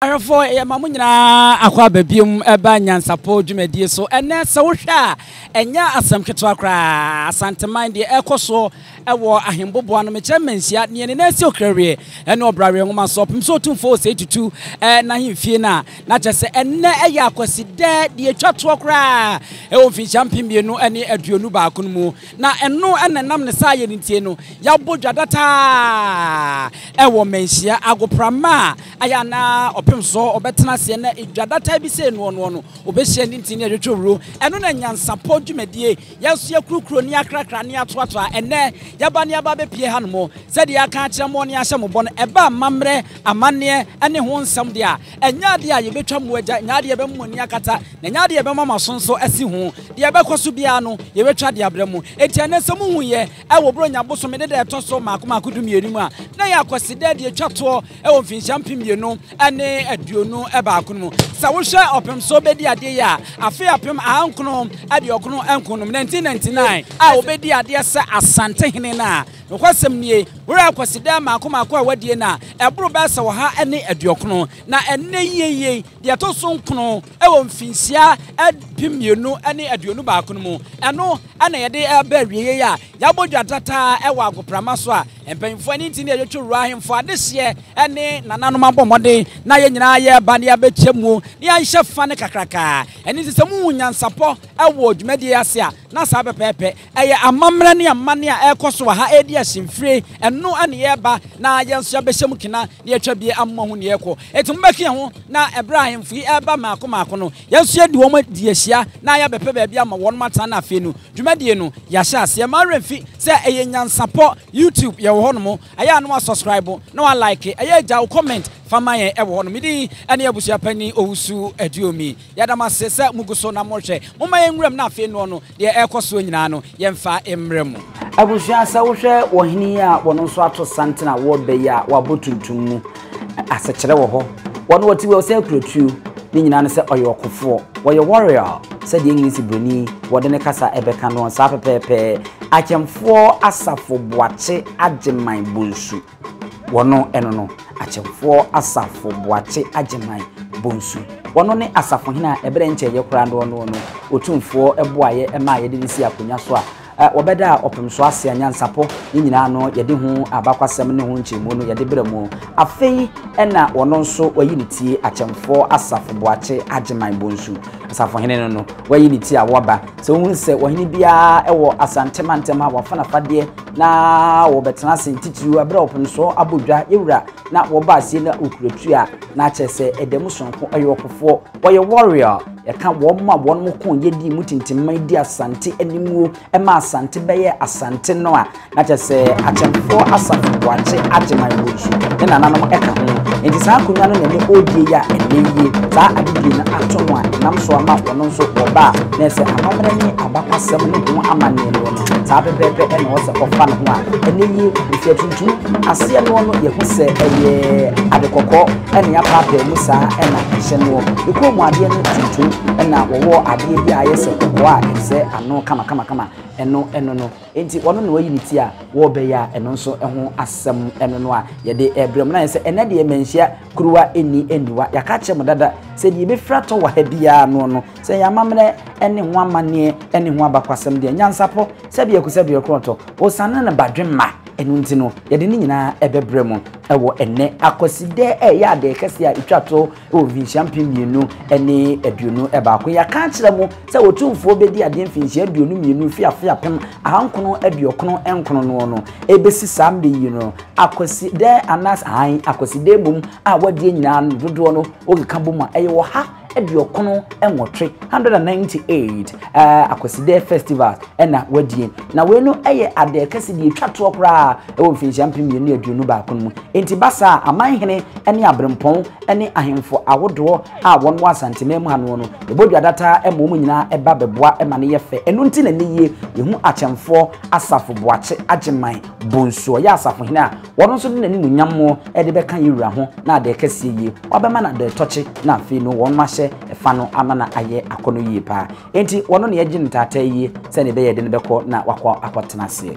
Ahwɛfoɔ, yɛma mo nyinaa akɔ aba biom ba Nyansapɔ dwumadie so. Ɛnnɛ, sɛ wohwɛ a, ɛnyɛ asɛm ketewa koraa. Asanteman, deɛ ɛrekɔ soɔ wɔ ahemboboa no, mekyerɛ mmanhyia, deɛ ne nan si Okrawie ne Ɔbraweɛ Nwoma so, ɔpem so Otumfoɔ Osei Tutu n'ahemfie no a, na kyerɛ sɛ ɛnnɛ yɛ Akwasida, deɛ ɛtwa toɔ koraa wɔ mfinhyia mpem mmienu ne aduonu baako no mu. Na ɛno na ɛnam ne saa yɛ no ntie no, yɛabɔ dwa dataa wɔ mmanhyia agoprama a Ayɛ anaa ɔpem sɔ ɔbɛtena aseɛ na edwa dataa bi sɛ enoɔ noɔ no ɔbɛhyia ne ntini ɛtwetwe wuro. Ɛno na nyansapɔ dwumadie. Yɛn nso yɛkurokuro ne yɛakrakra ne yɛatoatoa. Ɛnnɛ yɛaba ne yɛaba abɛpue ha nom. Sɛdeɛ yɛaka akyerɛ moɔ ne yɛahyɛ mo bɔ no, ɛba amammerɛ, amanneɛ ne ho nsɛm deɛ a, ɛnyɛ adeɛ a yɛbɛtwa mo agya, ɛnyɛ adeɛ a yɛbɛma mo ani akata, na ɛnyɛ adeɛ a yɛbɛma mo aso nso asi ho. Deɛ ɛbɛkɔ so biara no, yɛbɛtwa de abrɛ mo. Enti ɛnnɛ sɛ mohuiɛ, Wɔ Buronya bosome ne da a ɛtɔ so mmaako mmaako dumienu mu a na ɛyɛ Akwasidaa deɛ ɛtwa toɔ wɔ mfinhyia mpem mmienu ne aduonu baako no mu. Sɛ wohwɛ ɔpem so bɛdi adeɛ yi a, afe apem ahankono aduɔkono nko no mu, 1999, a wɔbɛdi adeɛ sɛ Asantehene no a, nokwasɛm nie, wura Akwasidaa mmaako mmaako a wɔadie no a, ɛboro bɛyɛ sɛ ɔha ne aduɔkono. Na ɛnnɛ yie yei, deɛ ɛtɔ so nkono. Wɔ mfinhyia mpem mmienu ne aduonu baako no mu, ɛno na yɛde reba awieeɛ a yɛabɔ dwa dataa wɔ agoprama so a mpanyinfoɔ ne nti ne yɛtwetwe wura ahemfo adehyeɛ ne nananom abɔ mmɔden na yɛn nyinaa yɛreba na yɛabɛkyɛ mu na yɛanhyɛ fa no kakrakaa. Ɛno nti sɛ mohu nyansapɔ wɔ dwumadie yi ase a na saa pɛpɛɛpɛ. Ɛyɛ amammerɛ ne amanne a ɛrekɔ so wɔ ha ɛredi asi mfire, ɛno ne yɛreba na yɛn nso yɛabɛhyɛ mu kena na yɛatwa bie amoa ho nea ɛrekɔ. Enti mobɛka yɛn ho na ɛberɛ a ahemfo yi reba mmaako mmaako no, yɛn nso yɛadi wɔn adi ahyia na yɛabɛpɛ baabi ama wɔnom atena na afei no dwumadie no yɛahyɛ aseɛ. Mma wo werɛ mfi sɛ ɛyɛ nyansapɔ, YouTube yɛwɔ hɔnom, ɛyɛ a na woasɔskraibo na woalaeke, ɛyɛ a gya wo kɔmɛnt fa ma yɛn ɛwɔ hɔnom. Me din ne Abusuapanin Owusu Aduomi. Yɛda mo ase sɛ mogu so na morehwɛ. Momma yɛn nwuram na afei noɔ no Deɛ ɛrekɔ soɔ nyinaa no, yɛmfa mmrɛ mo. Abusua, sɛ wohwɛ wɔhene yi a wɔn nso ato santen a wɔreba yi a wabɔ tuntum mu asekyerɛ wɔ hɔ. Wɔn wɔte wɔ sɛ kura tuo. Ne nyinaa ne sɛ ɔyɛ ɔkofoɔ. Wɔyɛ warrior sɛdeɛ English buroni wɔde ne kasa ɛbɛka noɔ saa pɛpɛɛpɛ. Akyɛmfoɔ Asafo Boakye Agyeman Bonsu. Wɔno ɛno no, Akyemfoɔ Asafo Boakye Agyeman Bonsu. Wɔno ne Asafohene a ɛberɛ nkyɛeɛ koraa no ɔno no Otumfoɔ boaeɛ maa yɛde no sii akonwa so a wɔbɛdaa ɔpem so ase a nyansapɔ ne nyinaa no yɛde ho abakwasɛm ne ho nkyerɛmu no yɛde berɛ mu. Afei na ɔno nso wayi ne ti Akyemfoɔ Asafo Boakye Agyeman Bonsu. Asafohene no no wayi ne ti a waba. Sɛ wohunu sɛ ɔhene biara wɔ Asante mantam ha wafa nafadeɛ na wɔbɛtena ase ntitiriw bere a ɔpemso abɔ dwa yɛwura na wɔba aseɛ na ɔkura tu a na akyerɛ sɛ ɛda mu sononko ɛyɛ ɔkofoɔ wɔyɛ warrior yɛka wɔn ma wɔn mo ko yɛdi mu tintimman di asante animuo ɛma asante bɛyɛ asante no a na kyerɛ sɛ akyɛmfoɔ asafo boakye agyeman wɔ nsu ne nananom ɛka ho nti saa akonnwa no na ɛne ɔdie yɛ a ɛnɛ yie saa adedie no ato no a ɛnam so ama wɔn nso wɔba a na ɛsɛ amammerɛ ne abakwasɛm ne ho amanneɛ no Saa pɛpɛɛpɛ na ɔwɔ sɛ ɔfa ne ho a ɛne nie, ɛfiri atuntum aseɛ noɔ no yɛhu sɛ ɛyɛ ade kɔkɔɔ ɛna yɛapaapaa mu saa ɛna ɛhyɛ noɔ. Ne kɔn mu adeɛ no tuntum ɛna wɔwɔ adeɛ bi a ayɛ sɛ kɔkɔɔ a ɛsɛ ano kamakamakama ɛno ɛno no. Enti ɔno na wayi ne ti a wɔrebɛyɛ a ɛno nso ɛho asɛm ɛno no a yɛde ɛbrɛ mu na ayɛ sɛ ɛnɛ deɛ manhyia Kuruwa nni aniwa. Yɛaka akyerɛ mo dada sɛ deɛ yɛbɛfiri atɔ wɔ ha biara noɔ no, sɛ ɛyɛ amammerɛ ne ho amanneɛ ne ho abakwasɛm deɛ, nyansapɔ, sɛdeɛ ɛko sɛdeɛ ɛkorɔtɔ, osiane ne badwemma, ɛno nti no, yɛde ne nyinaa ɛbɛbrɛ mo wɔ ɛnnɛ Akwasidɛ a ɛyɛ adɛɛ kɛseɛ a ɛtwa toɔ wɔ mfinhyia mpem mmienu ne aduonu baako. Yɛaka akyerɛ mo. Sɛ Otumfoɔ bɛdi adeɛ mfinhyia aduonu mmienu firi afe apem ahankono aduɔkono nkono noɔ no, ɛbɛsi saa mmɛ yi no, Akwasidaɛ anaas ahan Akwasidaɛ mmom a w'adeɛ nyinaa no dodoɔ no wokeka bɔ mu a, ɛyɛ ɔha aduɔkono nwɔtwe, 198, ɛɛ Akwasidaɛ festivals ɛna w'adie. Na wei no ɛyɛ adɛɛ kɛse deɛ ɛtwa toɔ koraa ɛwɔ mfinhyia mpem mmienu ne aduonu baako no mu. Enti ba saa a, Amanhene ɛne Aberempɔn ɛne Ahenfo ahodoɔ a wɔn wɔ Asanteman mu ha noɔ no, yɛbɔ dwa dataa ma wɔn nyinaa ba bɛboa ma no yɛ fɛ. Ɛno nti na ɛnnɛ yie yɛhu Akyɛmfoɔ Asafo Boakye Agyeman Bonsu, ɔyɛ Asafohene a ɔno nso de n'animuonyam de bɛka yɛn Wura ho na adɛɛ kɛseɛ yie wabɛma no adɛɛ tɔkye na afei no wɔn ahyɛ fa no ama no ayɛ akɔnɔ yie paa. Enti ɔno na yɛgye no ntaataa yie sɛdeɛ ɛbɛyɛ yɛde no bɛkɔ na wakɔ akɔtena aseɛ.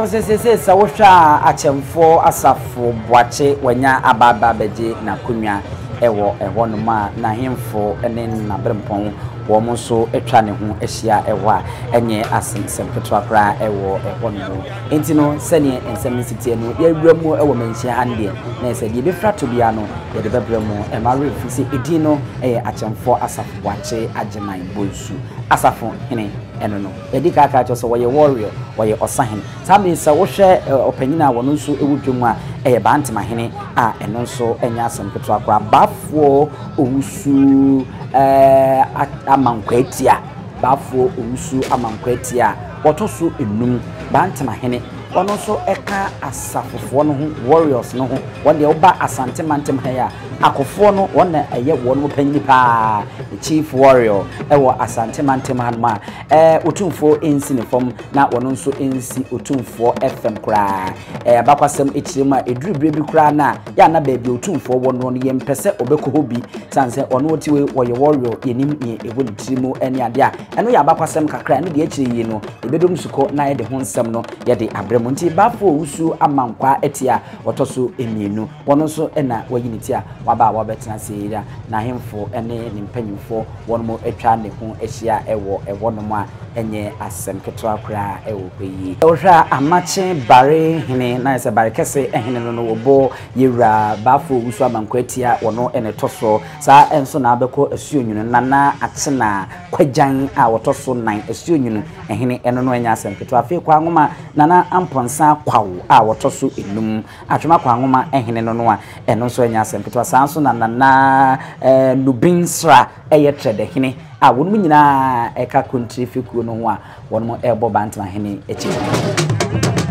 ɛwɔ sɛ sese sɛ wohwɛ a akyɛmfoɔ asafo boakye wanya abaaba abɛgye n'akonnwa ɛwɔ ɛhɔnom a n'ahemfo ne n'aberempɔn Wɔn nso twa ne ho hyia hɔ a, ɛnyɛ asɛm ketewa koraa wɔ hɔnom. Enti no, sɛdeɛ nsɛm no si teɛ no, yɛrewura mu wɔ manhyia ha no deɛ, na ɛyɛ sɛ deɛ ɛbɛfiri ato biara no, yɛde bɛbrɛ mo. Ɛmma werɛ mfiri sɛ edin no yɛ Akyɛmfoɔ Asafo Boakye Agyeman Bonsu. Asafo hene, ɛno no. Yɛadi kan aka akyerɛ wo sɛ ɔyɛ Warrior, ɔyɛ ɔsahene. Saa mmerɛ yi, sɛ wohwɛ ɔpanin a ɔno nso wɔ dwam a, ɛyɛ Bantema hene a ɛno nso nyɛ asɛm ketewa koraa. Baafoɔ. Owusu eh ama Nkwaatia, Baafoɔ Owusu ama Nkwaatia a ɔtɔ so nnum, Bantama hene, ɔno nso ɛka asafofoɔ no ho, warriors no ho, wɔn deɛ woba Asante mantam ha yi a, akofoɔ no wɔn na ɛyɛ wɔnom panyini pa ara, the chief warrior ɛwɔ Asante mantam ha nom a eh Otumfoɔ ɛnsi ne fam na ɔno nso ɛnsi Otumfoɔ fam koraa. Ɛyɛ abakwasɛm akyire mu a ɛduru berɛ bi koraa no a, yɛ a na baabi a Otumfoɔ wɔ noɔ no yɛmpɛ sɛ ɔbɛkɔ hɔ bi, sane sɛ ɔno ɔte hɔ yi, ɔyɛ warrior, yɛnim neɛ ɛwɔ ne tiri mu ne adeɛ a, ɛno yɛ abakwasɛm kakra, ɛno deɛ akyire yi no yɛbɛdɔ mu sukɔ na yɛde ho nsɛm no yɛde abrɛ mo. Nti Bafo wusuo amankwaa atia a ɔtɔ so mmienu. Wɔn nso na wɔayi ne ti a waba a wɔbɛtena Seira, n'ahemfo ne ne mpanyimfo, wɔnom atwa ne ho ahyia wɔ ɛhɔnom a ɛnyɛ asɛm ketewa koraa wɔ hɔ yi. Sɛ wohwɛ a, amakye bare hene, na ayɛ sɛ bare kɛse hene no, no wɔbɔ yɛn wura Bafo Owusu Amankwah ti a wɔno na ɛtɔ so. Saa ara nso na abɛkɔ Asuonwunu Nana Akyena Kwagyan a wɔtɔ so nan Asuonwunu hene, ɛno no ɛnyɛ asɛm ketewa. Afei Kwaa Nwoma Nana Amponsah Kwaw a wɔtɔ so nnum. Atwema Kwaa nwoma Hene no no a, ɛno nso ɛnyɛ asɛm ketewa. Saa ara nso na Nana Nubin Sra yɛ Trɛdɛ Hene a wɔnom nyinaa ka Kontire fekuo no ho a wɔnom rebɔ Bantama Hene kyitire.